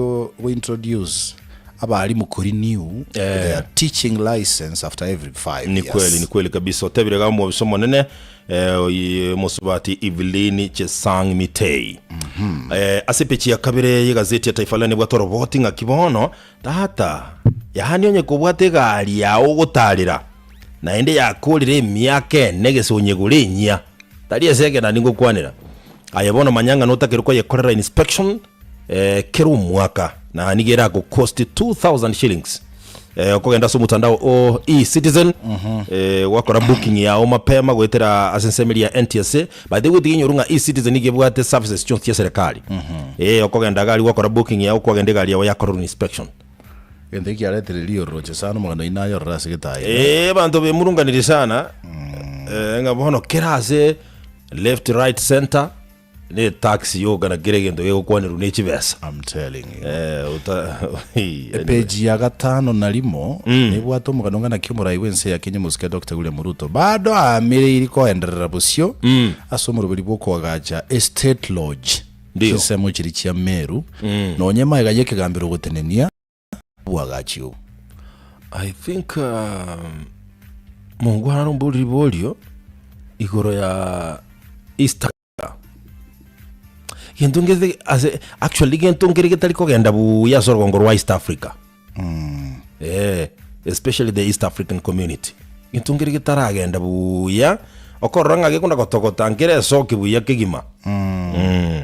go introduce abalimu kuri new Eh. their teaching license after every five ni kweli ni years kweli kabisa otebire ga omobisa omonene eh, oyi- mosubati evelyn chesang mitei eh, ase pechi ya kabere y'egazeti ya taifa leo nibwate oroboti ng'aki bono tata yaani onye kobwata egari yao ogotarera naende yakorire emiaka ene gese onyegore enyia tari ase ekero nari ngokwanera aye bono manya ng'a notakire koyekorera inspection eh, kera omwaka na nigo eragocost 2000 shillings eh, okogenda ase omotandao o e-citizen eh, gwakora booking yao mapema goetera ase ensemeri ya ntsa by the way tiga inyoru ng'a e-citizen nigo ebwate services chionsi chia serikali eh, okogenda gari gwakora booking yao kwagenda egari yao yakorerwa inspection Gento eki kiaretire riororoche sana omogano oino ayorore ase getayo. Eh, abanto bemurunganirie sana eh, ng'a bono kera ase left right center Ne tax yogokana kera egento gegokwanerwa ne chibesa. I'm telling you. Eh, uta anyway. Epeji ya gatano na rimo nebwate omogano ng'a naki omorai bw'ense ya Kenya omosike Dokita William Ruto bado aamireiri koenderera bosio ase omoroberi bw'okoagacha Estate Lodge Ndio. chinsemo chiria chia Meru nonya emaiga y'ekegambero ogotenenia na obwagachi obo. I think mongo arare omboriri borio igoro ya East Africa. Gento ngete ase actually gento nkere getari kogenda buya ase orogongo rwa East Africa. Mm. Eh, especially the East African community. Gento nkere getaragenda buya okorora ng'a gekona gotogota nkere esoki buya kegima. Mm. Mm.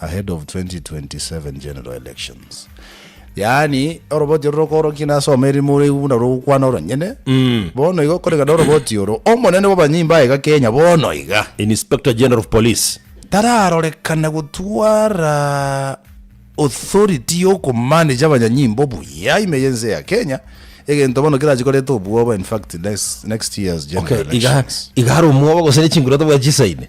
ahead of 2027 general elections yaani oroboti oro rokorokia nasome erimo oraigu buna rogokwana oronyene bono iga okorekana oroboti oro omonene bw'abanyimba aye iga kenya bono iga Inspector General of Police. tararorekana gotwara authority y'okomanage abanyanyimbo buya ime y'ense ya kenya egento bono kerache koreta obwoba infact next, next year's general Okay, iga elections iga are omwobo gose ne chinguru tabwati chisaine.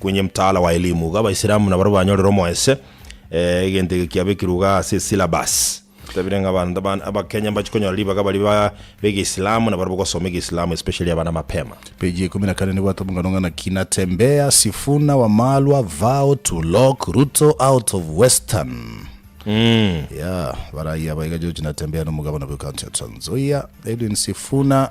Kwenye mtaala wa elimu iga abaisilamu nabarabwo banyorire omoese, egento eke kiabekirwe iga ase esyllabus. Totabire ng'a abanto abande abakenya mbachie konyora ribaga baria ba b'egeisilamu nabarabwo gosoma egeisilamu especially abana mapema. Page ya ikomi na kane nigo atobong'ano ng'a naki Natembeya, Sifuna, Wamalwa, Vow to lock Ruto out of Western. Yeah, barayia aba iga George Natembeya na omogabana bwe county ya Trans Nzoia, Edwin Sifuna,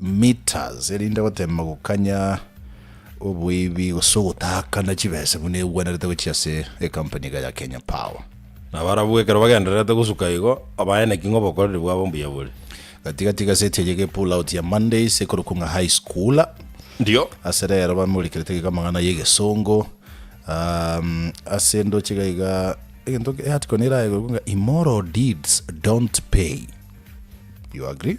meters, erinde goteema gokanya oboibi gose ogotakana chibesa buna egwenerete gochia ase ecompany iga ya Kenya Power. Na barabwo ekero bagendererete gosuka igo, obaeneki ng'a obokoreri bwabo mbuya bore. Gati gati egaseti eye ge Pull Out ya Mondays ekorokwa ng'a High Schooler. Ndio. Ase rero bamorikerete gaiga amang'ana y'egesongo. Um, ase ndoche gaiga egento e article neraegerokwe ng'a Immoral deeds don't pay. You agree?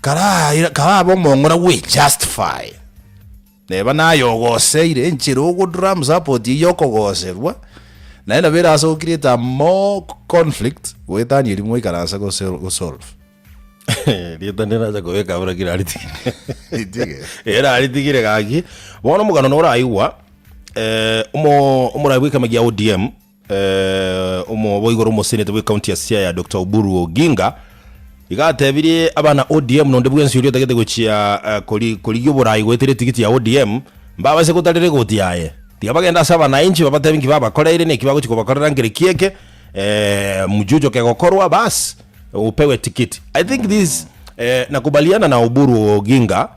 Karaira, karabe omong'ora gwe justify. Neba naye ogoseire enchera ogodram support eye yokogoserwa, naye nabo erase go create a more conflict goetania erimo ikaranse go sol- go solve. Rieta neracha kobeka buna kira aritigire. Ritige. Era aritigire gaki. Bono omogano noraigwa eh, omo- omorai bwekema gia ODM Omoboigo omosenete bwe county ya Siaya Doctor Oburu Oginga iga atebirie abana ODM nonde bwensi oria otagete gochia korigia oborayi goetera etigiti ya ODM mbabase gotarera egoti yaye tiga bagende ase abanainchi babatebie nki babakoreire neki bagochia kobakorera ngere ki eke mujujoke gokorwa baas opewe etikiti I think this Nakubaliana na Oburu Oginga.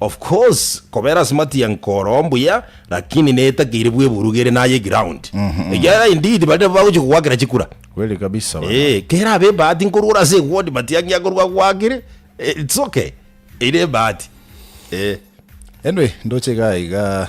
Of course kobera smart young koroo mbuya lakini netakeire bweburuge ere naye eground ekiagera indeed baria nabo bagochia kogwakera chikura Kweli kabisa bana. eeh kera abe ebahati nkorwora ase eward but yaki akorwa agwakire eh, it's okay ere ebahati eeh. Anyway ndoche iga iga.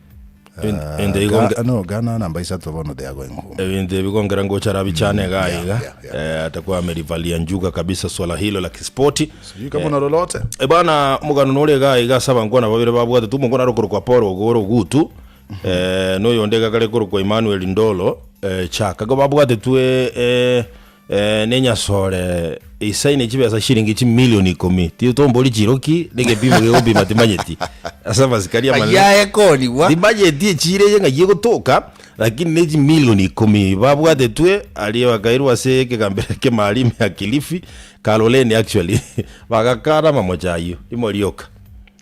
Ende- ende igo nge- no gana namba isato bono they are going home ebinto ebi kongera ngocha rabichane iga yeah, iga yeah, yeah. Eh, atakuwa amelivalia njuga kabisa swala hilo la kispoti sijui kama unalolote E bana mugano nore iga iga ase abankwana babere babwate tu omokwana are okorokwa paul ogoro ogutu eh, noyo onde iga kare korokwa emmanuel ndolo eh, chaka igo babwate tu eh, eh, Nenyasore eisaini chibesa chiringi chimilioni ikomi tiyo tombori chiroki negepimo gegopima timanyeti ase amasikari amanene Ayaye konigwa. timanyeti echire eye ng'ai egotoka lakini ne chimilioni ikomi babwatetwe aria bakairwa ase ekegambero kemaalimi ya kilifi kaloleni actually bagakana amamocha ayio imo rioka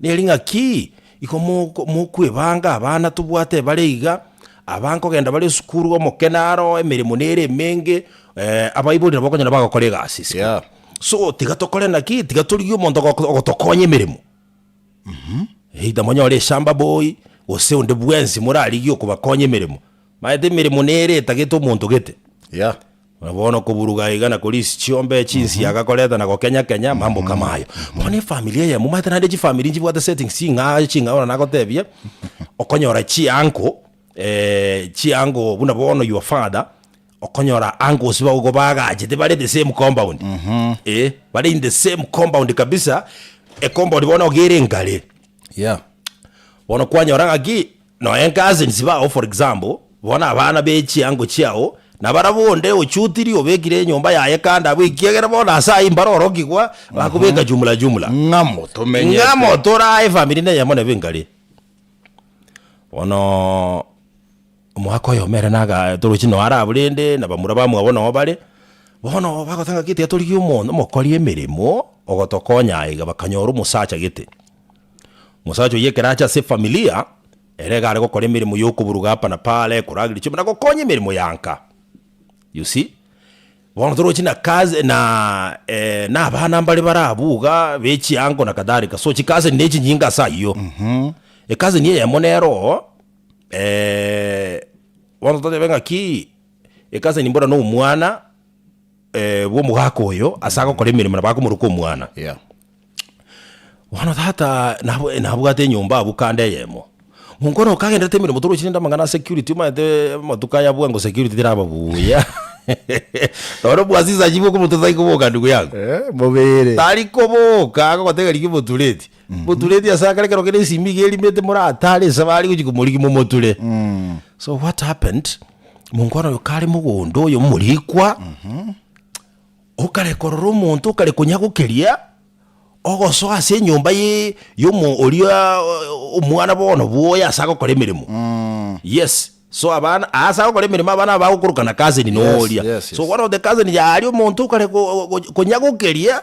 Nere ng'aki igo mokwebanga abana tobwate bare iga, aba nkogenda bare esukuru, omokene aro, emeremo nere emenge, abaibori nabo okonyora bagokora egasi esiko. So tiga tokore naki? Tiga torigie omonto ogotokonya emeremo. Either monyore eshamba boy, gose onde bwensi morarigie okobakonya emeremo. Maete emeremo nere etagete omonto gete, ya. Buna bono koburuga aiga na korisia chiombe, chinsiaga, koreta na gokenya-kenya mambo kama ayo. Bono efamiri eyemo, maete naende chifamiri nchibwate settings ching'aa ching'ao na nagotebie, okonyora chianko chianko buna bono your father, okonyora uncles bago igo bagachete bare the same compound, eh, bare in the same compound kabisa, e compound bono iga ere engare, ya. Bono kwanyora ng'aki Nonya cousins bao for example, bono abana be chiango chiao, na barabwo onde ochutiri obekire enyomba yaye kando abwo ekiagera bono ase ayio mbare orokigwa bakobeka jumla jumla. Ng'amo tomenyete. Ng'amo torae efamiri neyemo nebe nkare. Bono omwaka oyomo ere naga torochi noo arabwo rende na bamura bamwabo noo bare, bono bagoteba ng'a gete torigie omonto omokori emeremo ogotokonya aiga bakanyora omosacha gete. Omosacha oyio ekero acha ase efamilia ere iga are gokora emeremo y'okoburuga apa na pale, korageria chiombe, na gokonya emeremo ya nka. You see? Bono torochi na kazi na abana mbare bare abwo iga, be chiango na kadhalika, so chikazi ne chinyinge ase ayio. Ekazi eye eyemo nero bono totebe ng'aki, ekazi eye mbora na omwana bwa omogaka oyo ase agokora emeremo nabo akomoroka omwana. Bono tata nabo- nabwate enyomba abwo kando eyemo, monkoro okagenderete emeremo torochi rende amang'ana a security omanyete amatuko aya abwo ango security teraba buya nonya obwasisi achibe okomotu tari koboka ndugu yangu Eh, mobere. tari koboka agogotega rigia omotureti motureti ase akare ekero kere esimi iga erimete moratare nse bare gochia komorigia momoture so what happened monkoro oyo kare mogondo oyo omorikwa Okare korora omonto okare konyagokeria ogosoa ase enyomba ye yomo oria omwana bono bwoye ase agokora emeremo. Yes, so abana ase agokora emeremo abana aba bagokorokana cousin noria. Yes, yes, yes. So one of the cousin yaria omonto okare ko- ko- konyagokeria.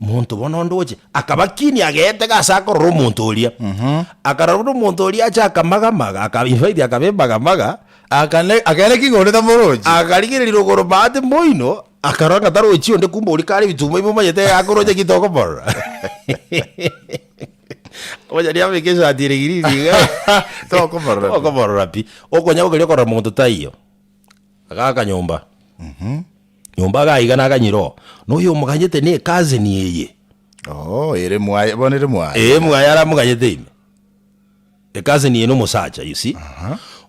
Monto bono onde oche akabakinia ageetega ase akorora omonto oria. Akarora buna omonto oria ache akamagamaga, aka, in fact akabemagamaga, Akane- akaneki ng'a onde tamorochi. akarigereria rogoro Bahati mboino, akarora ng'a tarochi onde kumbe oria kare ebitumo ime omanyete iga akoroche ki tokomorora. Onye riabeka esati ere green iga, Tokomorora pi. tokomorora pi. Okonya gokeria okorora monto taiyo. Iga akanyomba. Nyomba agaiga naganyira oo, noyo omoganyete ne cousin eye. Oo, ere mwaye, bono ere mwaye. Ee, mwaye aramoganyete ime. E cousin eye nomosacha, you see.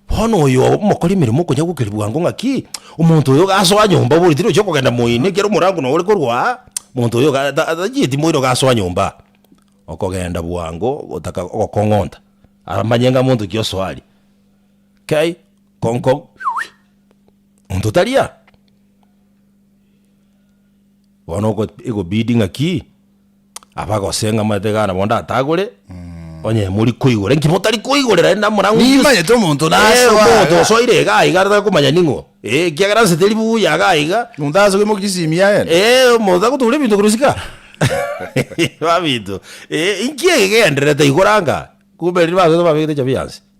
Bono oyo omokori emeremo okonya gokeria bwango ng'a ki, omonto oyo gasoa nyomba obori tiri ochia kogenda moino ekero omorango noyo ore korwa aa, monto oyo iga ta tachieti moino gasoa nyomba aa. Okogenda bwango gotaka ogokong'onta, aramanye ng'a monto ki osoa aria. Kei, kong kong. monto tari aa. Bono oko ekobidi ng'aki, abagose ng'a omanyete iga bono ndatagore, onye mori koigora inki motari koigorera aende amang'ana ng'umbe. Nimanyete omonto nasoa omonto iga. osoire iga iga tari komanya ning'o, eh, ekiagera nse teri buya iga iga, Omonto asoa oimokia esimi yaye. eh, omonto agotuguria ebinto korwa isiko aa. Ebinto, eh, inki eke kegendererete igoro anga? Kumbe riria basoete babegete chabi yansi.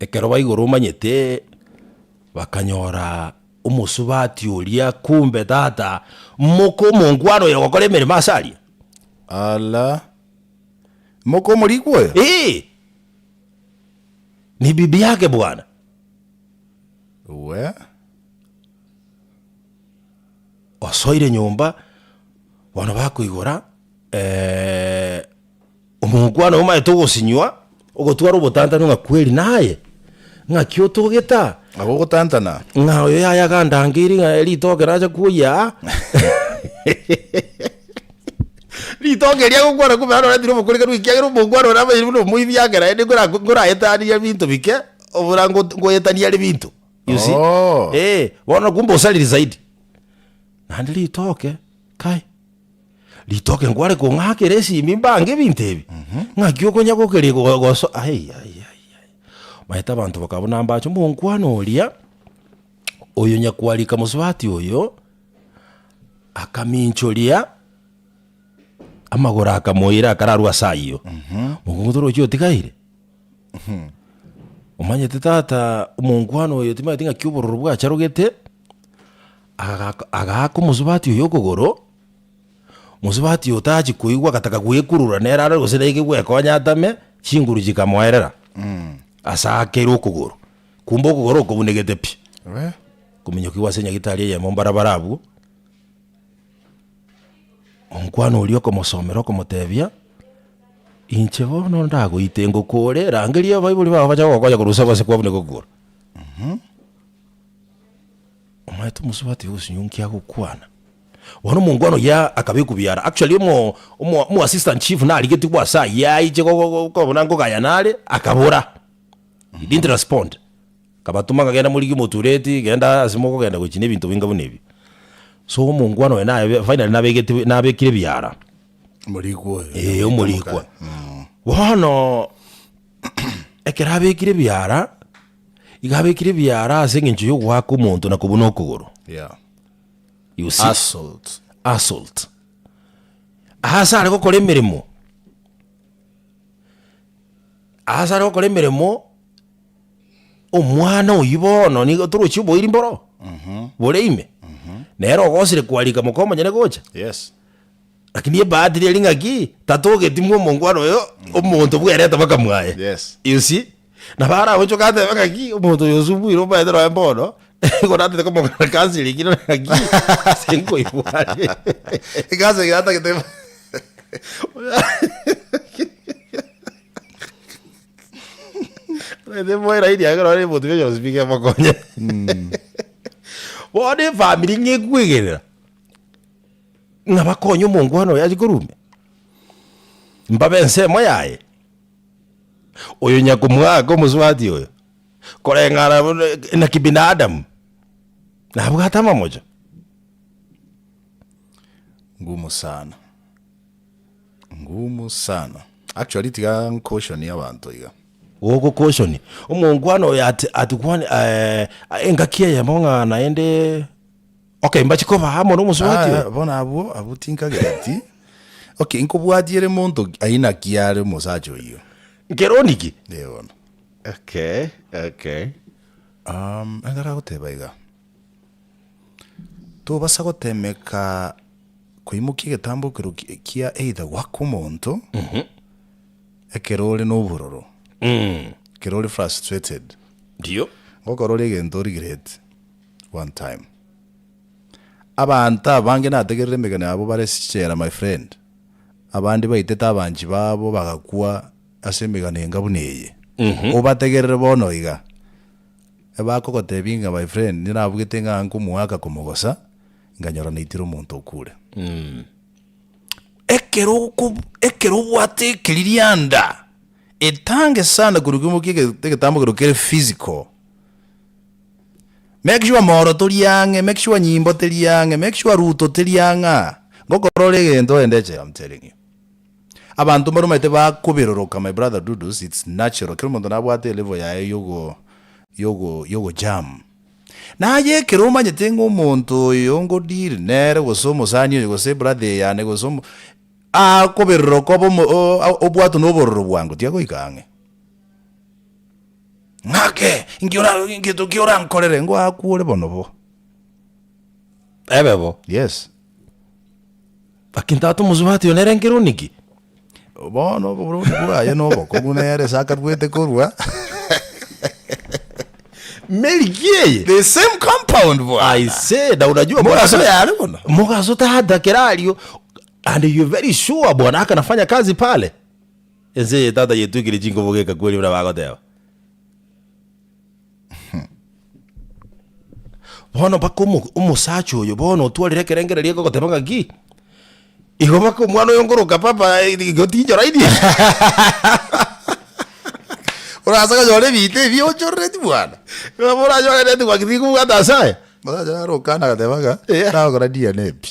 Ekero baigure omanyete, bakanyora omosubati oria kumbe tata moka omongwana oyo ogokora emeremo ase aria. Ala! Moka omorikwa oyo? Ee, nebibe yake bwana. Uwe? Osoire nyomba, bono bakoigora, ee. Omokwana omaete ogosinywa, ogotwara obotantani ng'a kweri naye, ng'aki otogete aa? Agwo ogotantana. Ng'a oyo yaye agandangeiri ng'a ritoke nacha kwoyia aa. Ritoke eria agokwana kumbe naro oretire obokorikanu ekiagera omokwana oria abairi buna omoibi agera aende nkora nkoraetania binto bike obora ngot- ngoetania are binto. You see? Oh. Eh, bono kumbe osariri zaidi. Naende ritoke, kai, Ritoke nkware kong'akera esimi mbange ebinto ebi, ng'aki okonya gokeri go- goso ai, ai, ai, ai. Omanyete abanto bakaba buna mbache omonkwana oria, oyo nyakwarika mosubati oyo, akaminchoria amagoro akamoira akararwa ase ayio, mogogoto oroche otigaire. Omanyete tata omonkwana oyo timanyeti ng'aki obororo bwacharogete, agaka agaaka omosubati oyo okogoro. Mosubati otachia koigwa agataka gwekurura nere are gose naike gwekonya atame, chinguru chikamoerera as'akere okogoro, kumbe okogoro okobunegete pi, kominyokigwa ase nyagitari eyemo mbarabara abwo, omokwano oria okomosomera okomotebia, inche bono ndagoite ngokore rangeria abaibori bago bache bagokonya korwa usa gose kwabuneka okogoro. Omonyaneto omosubati ogosunyunkia agokwana, bono omongwana oyio akabekwa biara. Actually omo omo omo assistant chief narigetigwe ase ayio aiche go- go- go- kobuna nkogayana are, akabora. He didn't respond. Akabatuma ng'a genda morigie omotureti, genda ase mokogenda gochi na ebinto binga buna ebi. So omongwana oyo naye finally nabegetigwe nabekire biara. Omorikwa oyo. Ee, omorikwa. Bono ekero abekire biara. Igo abekire ebiara ase engencho y'ogoaka omonto na kobuna okogoro. Yeah. You see? Assault. assault ase are gokora emeremo ase are gokora emeremo omwana oyi bono nigo torochi oboiri mboro bore ime nere ogosire kwarika moka omonyene gocha Yes. lakini ebahati riari ng'aki tatogetimwa omongwana oyo omonto bwerete bakamwaya Yes. you see Nabo aragochoka atebe ng'aki, omonto oyo osubwire omaete noe bono, nigo natete komong'ana kansi ere ekero ng'aki, ase nkoibwate. Ekansu eye atagete bo- Omanyete moe raini yake nonye eboti bionsi nonsi bikemokonya. Bono efamiri ng'a ekwegerera, ng'a bakonye omongwana oyo achi korumia, mbabe ensemo yaye. Oyo nyakomwaka omosubati oyo, koreng'ana buna na kibinadamu, nabwate amamocho? Ngumu sana, ngumu sana. Actually tiga ncaution abanto iga. Ogokoshonia omongwana oyo ati ati kwani engaki eyemo ng'a naende. Okay, mbache koba amo nomosubati oyo. Ah, bono abwo, abwo tinkagereti. Okay, nkobwatia ere monto ki- aina ki are omosacha oyio. Nkeroni ki? Eh, bono. Okay, okay. Um, ekero agoteba iga, tobasa gotemeka koimokia egetambo ekero ki- kia either goaka omonto, ekero ore nobororo, ekero ore frustrated, Ndio. ngokorora egento o regret, One time. Abanto abange nategerere emegena yabo bare sichera my friend. Abande baitete abanchi babo bagakwa ase emegano enga buna eye. Obategerere bono iga. Ebakogotebia ng'a my friend inche nabugete ng'a ango omwaka komogosa nkanyora naitire omonto okure. Ekero oko ekero obwate ekiririanda etange sana korwa kimokia egetambo ekero kere physical. Make sure moro tori ang'e, make sure nyimbo teri ang'e, make sure ruto teri ang'e aa. Ngokorora egento ore ndeche am telling you. Abanto mbaromanyete bakoberoroka my brother Dudus, it's natural kera omonto nabwate elevel yaye yogo yogo yogo jam. Naye ekero omanyete ng'a omonto oyo ngo deal nere gose omosani oyo gose ebrother eyane gose omo akoberoroka obe omo obwatwe na obororo bwango tiga goika ang'e. Ng'ake, inki ora, ngento ki orankorere? Ngwakuore bono bo. Ebe bo. Yes. Lakini tata omosubati oyo nere nkero niki? Bono oboroni bwaye na obokungu nere ase akaruete korua. Milk eye. The same compound bwana. I say, na unajua Mogaso mogaso ya yale bono. mogaso tata kerario and you're very sure bwana akanafanya kazi pale. Ense eye tata yetwekire chinkobo geka kweri buna bagoteba. Bono mpaka omo- omosacha oyo bono otwarire ekerengererio eke ogoteba ng'aki, igo mpaka omwana oyo nkoroka papa eh, igo tinchoraini. Orase konyora ebinto ebi ochorereti bwana. Nabo oranyore neti ng'aki tikobwata ase aya. Omosacha naro okana agateba ng'a, Eya. Nagokora DNA pi.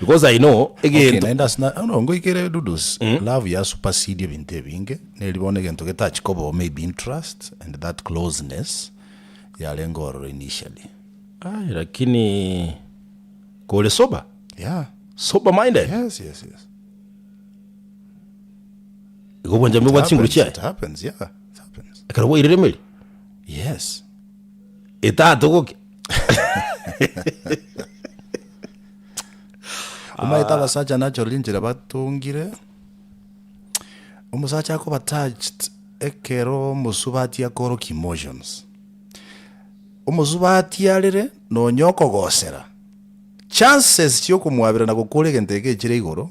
Because I know Okay, egento naende ase na- no, ngoikere Dudu's love ya supersede ebinto ebinge neri bono egento getach kobawo maybe interest and that closeness yarenge ororo initially Aye, lakini kore sober yeah sober minded yes yes yes igo obwanchami bwa chinguru happens, chiaye it happens yeah it happens ekero bwairire emeri yes etatogokia Omaete abasacha nachora rinchera batongire, omosacha akoba touched ekero omosubati akorokia emotions. Omosubati arere nonya okogosera, chances chia okomwabera na gokora egento eke echire igoro,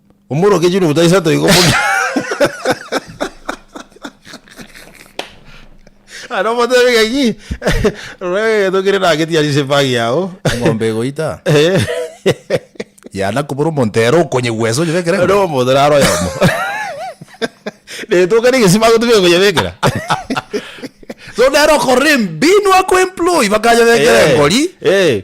Omorokia Juni Mutaisa toigo buna Aya nomotebe gaki Rora egegeto kere nageti ase esepagi yao Eng'ombe egoita Eh. Yana kobora omonto ere okonyegwa ense onyebekere Ere eng'ombe. omonto naro oyomo Retoka na egesibaa gotu bigokonyebekera So nere okorora embinwa ko employ bakanyebekera engori. Eh.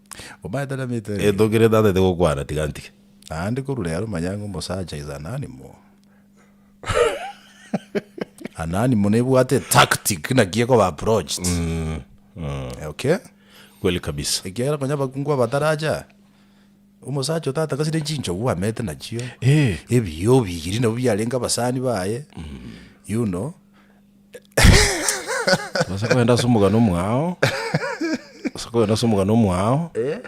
Omanyete na mito ere. Etogire ndatete gokwana tiga ntige. Naende korwa rero manya ng'a omosacha is ananimo. ananimo nebwate tactic naki ekoba approached. Okay? Kweli kabisa. Ekiagera nonya abakungu abataracha omosacha otatakasire chinchogu amete nachio. Eh. Ebiya obigiri nabwo biarenge abasani baye. You know? Ase kogenda ase omogano omwao, ase kogenda ase omogano omwao, Eh,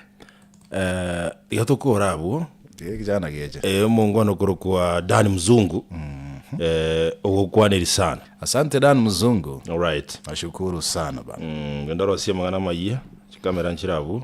eh, iga tokora abwo, eh, kijana geche. eh, omongwana okorokwa Dan Mzungu, eh, ogokwaneri sana. Asante Dan Mzungu. Alright. Nashukuru sana bana. Mm, genda orosie amang'ana amayia, chikamera nchire abwo.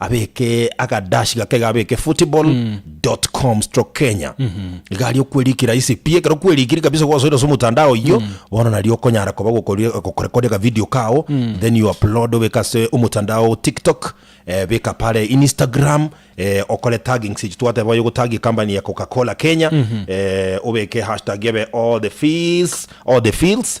abeke agadash gake iga abeke football dot com stroke kenya iga aria okwerikira ase pi ekero okwerikiri kabisa gosoira ase omotandao oyio bono nario okonyara koba gokori- gokorekoria akavideo kao then you upload obeke ase omotandao tiktok eh, beka pare instagram eh, okore taggings echi twateba oye ogotagi company ya coca cola kenya eh, obeke hashtag ebe all the fees all the fields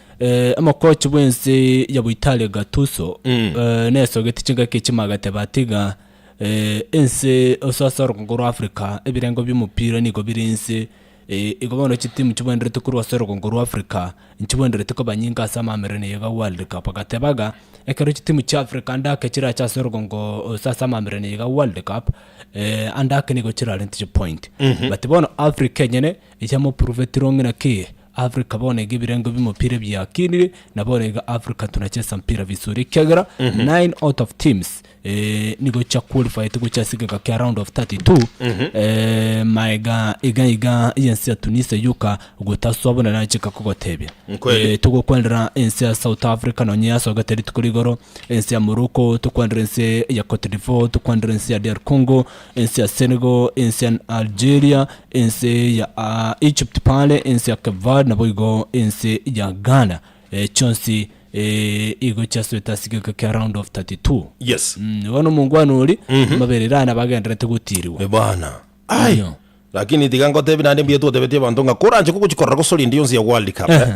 Eh, omokochi bw'ense ya Boitalia Gattuso Mm. eh, nesogete chingaki echi magateba atiga eh, ense ase ase orogongo rwa Africa ebirengo bi'omopira nigo bire inse eh, igo bono chitimu chibwenerete korwa ase orogongo rwa Africa nchibwenerete koba nyinga ase amaameraino yaye ya World Cup agatebaga ekero chitimu chia Africa ande ake chirache ase orogongo ase ase amaameraino yaye ya World Cup eh, ande ake nigo chirarente chipoint but bono Africa enyene Inche moprovetirwe ng'ina ki Africa bono iga ebirengo bimopira biakinire na bono iga Africa tunachesa mpira vizuri ekiagera nine out of teams eh, nigo chia qualified gocha ase egeka kia round of 32 eh, maega iga iga yensi ya Tunisia yoka gotaswa bono nachika kogotebia Nkweli. Eh, togokwanera ense ya south africa nonye yasogete rituko rigoro ense ya morocco tokwanera ense ya cote divoir tokwanera ense ya dr congo ense ya senegal ense ya algeria Ense ya Egypt pare ense ya Kevar, naboigo ense ya Ghana, eh, chionsi eh, igo chiaswete ase egeika kia round of 32. Yes. Mm, bono omongwana ori amabere rane abagenderete gotiirigwa. Eh, bana. Ai. Iyo. Lakini tiga ngotebi naende mbuya twatebeti abanto ng'a koranche kogochi korora gose orinde yonsi ya World Cup. eh.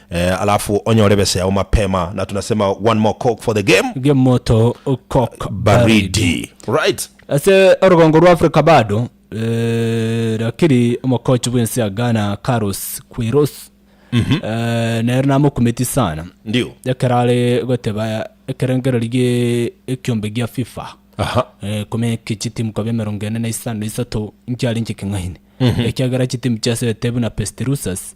Eh, alafu onyore besa yao mapema na tunasema one more coke for the game Ge moto kok baridi right ase orogongo rwa africa bado eh, lakini omokochi bwensi ya ghana carlos quiros eh, nere namokumeti sana ndio ekero are goteba ekerengereri gie ekiombe gia fifa aha eh, komeke chitimu kobe emerongo ene na isano na isato nkiarinche king'aini ekiagera chitimu chiasete buna pestirusas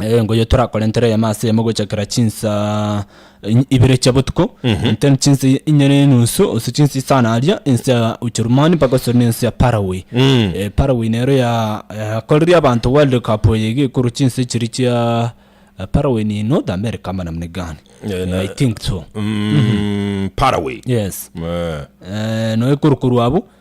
engo eye torakorentere eyemo ase eyemo gochakera chinsa in- ibere chia botuko then chinsa i- inye na enusu gose chinsa isano aria ense ya ucherumani mpaka gose na ense ya paraguay Eh, paraguay nero ya- yakoreria abanto world cup eye iga ekorwa chinsa echiria chia eh, paraguay ni north america ama namna gani Eh, na- i think so Mm, paraguay yes Eh, Eh, no ekorwa korwa abwo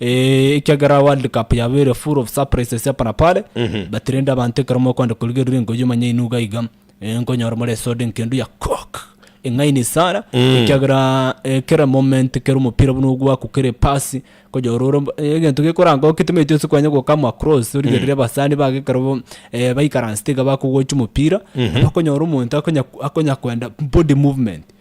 Eh, ekiagera world cup yabeire full of surprises hapa na pale but rende abanto ekero mokwenda korigerera engoji omanye inwe iga iga eh, nkonyora more esoda enkendu ya coke eng'aini sana ekiagera eh, kera moment kera omopira buna ogwaku kera epasi konyora ore mb- eh, egento gekoranga oketemetie ase kwanya gokama across origerere abasani baka ekero bo- eh, baikaransete iga bakogocha omopira bakonyora omonto akonya akonya kwenda body movement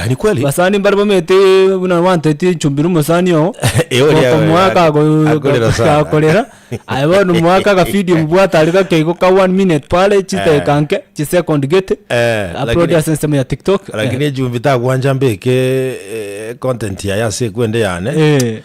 Ah, ni kweli basani mbare bamete buna wanteti echumbire omosani oo Eh, oria Goko oyo, mwaka ako- akorera sana. akorera aye bono mwaka akafidio mbwate are gake igo ka one minute pare chideka nke chisecond gete Eh, upload lakini- ase ensemo ya tiktok lakini echumbi tagwancha mbeke eh, content yaye ase ekwende yane Eh.